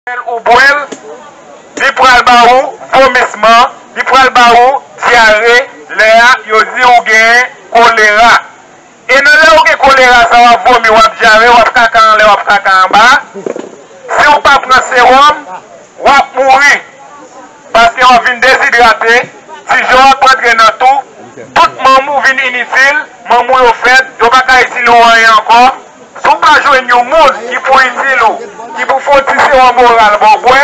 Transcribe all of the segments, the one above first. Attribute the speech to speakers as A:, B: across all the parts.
A: Lèl ou bwèl li pral ba ou vomisman li pral ba ou dyare lè a yo di ou gen kolera e nan lè ou gen kolera sa wap vomi wap dyare wap kaka anlè wap kaka anba si ou pa pran sewòm wap mouri paske wap vin dezidrate tijò ap antre nan tou tout manm ou vin initil manm ou yo fèb yo paka itil ou anyen ankò. Si w pa jwenn yon moun ki pou itil ou, ki pou fon ti sewòm oral ba w bwè,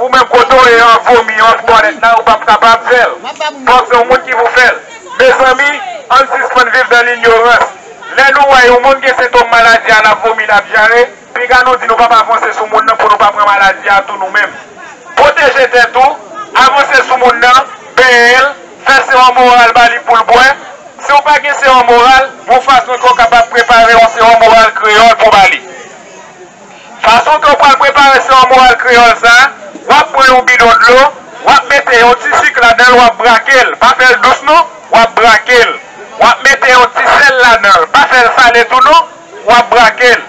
A: ou menm kote w ye an vomi yo an twalèt la ou pap kapab fè l. Fòk se yon moun ki pou fè l. Mezanmi, ann sispann viv nan linyorans. Lè nou wè yon moun gen sentom maladi a l ap vomi, l ap dyare, piga nou di nou pap avanse sou moun nan pou nou pa pran maladi a tou nou menm. Pwoteje tèt ou, avanse sou moun nan, benyen l, Fè sewòm oral ba li pou l bwè. Si w pa gen sewòm oral, yon fason ke w kapab prepare yon sewòm oral kreyòl pou w ba li. Fason ke w pral prepare sewòm oral kreyòl sa, w ap pran yon bidon dlo, w ap mete yon ti sik ladan l, w ap brake l, pa fè l dous non, w ap brake l. W ap mete yon ti sèl ladan l, pa fè l sale tou non, w ap brake l.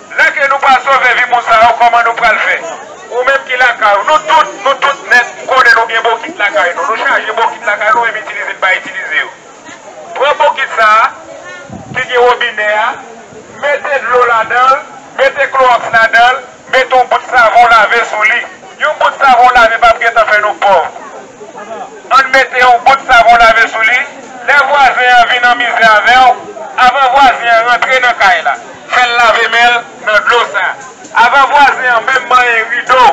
A: Lè ke nou pa sove vi moun sa yo kòman nou pral fè? Ou menm ki lakay ou, nou tout, nou tout nèt, m konnen nou gen bokit lakay nou, nou chaje bokit lakay nou menm itilize n pa itilize yo. Pran bokit sa a ki gen wobinè a, mete dlo ladan l, mete klowòks ladan l, mete yon bout savon lave sou li. Yon bout savon lave pap gentan fè nou pòv. Ann mete yon gout savon lave sou li, lè vwazen an vin an mizè avè w, avan vwazen an rantre nan kay la, fè l lave men l nan dlo sa. Avan vwazen an menm manyen rido,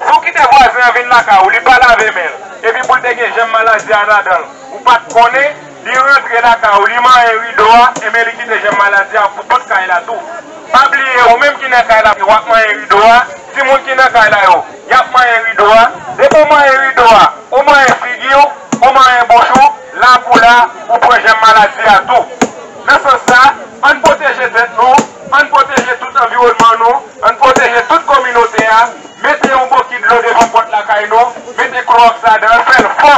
A: si w kite vwazen an vin lakay ou li pa lave men l, epi pou l te gen jèm maladi a ladan l, ou pa t konnen, Li rantre lakay ou, li manyen rido a, enben li kite jèm maladi a pou tout kay la tou. Pa bliye ou menm ki nan kay la wap manyen rido a, timoun ki nan kay la yo yap manyen rido a, depi ou manyen rido a, ou manyen figi ou, ou manyen bouch ou, lakou la, ou pran jèm maladi a tou. Nan sans sa, ann pwoteje tèt nou, ann pwoteje tout anviwònman nou, ann pwoteje tout kominote a, mete yon bokit dlo devan pòt lakay nou, mete klowòks ladan l, fè l fò.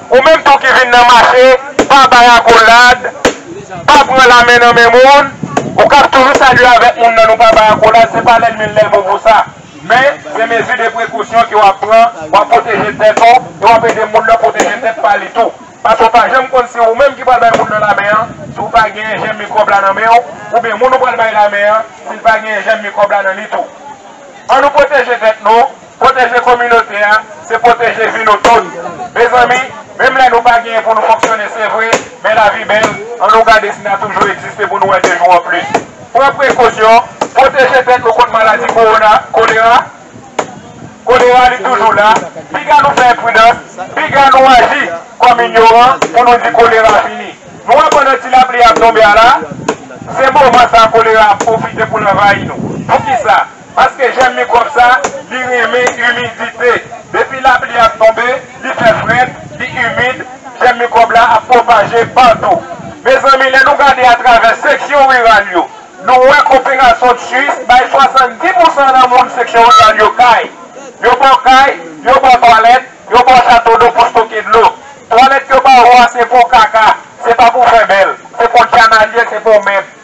A: Ou menm tou ki vin nan mache pa bay akolad, pa pran lamen nan men moun, ou kap toujou salye avèk moun nan nou pa bay akolad se pa lèl men lèl bon pou sa men se mezi de prekosyon ke wap pran wap pwoteje tèt ou e wap ede moun nan pwoteje tèt pa li tou paske ou pa janm konn si ou menm ki pral bay moun nan lamen an si ou pa genyen jèm mikwòb la nan menw oubyen moun ou pral bay lamen an sil pa genyen jèm mikwòb la nan li tou an nou pwoteje tèt nou. Pwoteje kominote a, se pwoteje vi nou tout. Mezanmi, menm lè nou pa genyen pou nou fonksyone se vre, men lavi bèl, an nou gade si n a toujou egziste pou nou wè de jou an plis. Pran prekosyon, pwoteje tèt nou kont maladi kowona, kolera, kolera li toujou la, piga nou fè enpridans, piga nou aji kòm inyoran pou nou di kolera fini. Nou wè pandan ti lapli a ap tonbe a la, se moman sa kolera ap pwofite pou l anvayi nou. Poukisa? Paske jèm mikwòb sa, li renmen imidite. Depi lapli ap tonbe, li fè frèt, li imid, jèm mikwòb la ap pwopaje patou. Mezanmi, lè nou gade atravè seksyon riral yo, nou wè koperasyon Tchuips bay 70 pousan nan moun seksyon riral yo kay. Yo ba w kay, yo ba w twalèt, yo ba w chato do pou stoke dlo. Twalèt yo ba ou a se pou w kaka, se pa pou w fè bèl. Se pou w djanalyè, se pou w mèb.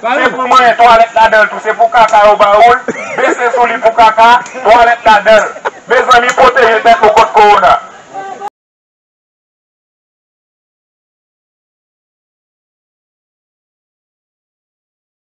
A: Se pou mwen twalet ladanl tou se pou kaka yo ba oul bese sou li pou kaka twalet ladanl mezanmi pwoteje tèt nou kont kowona.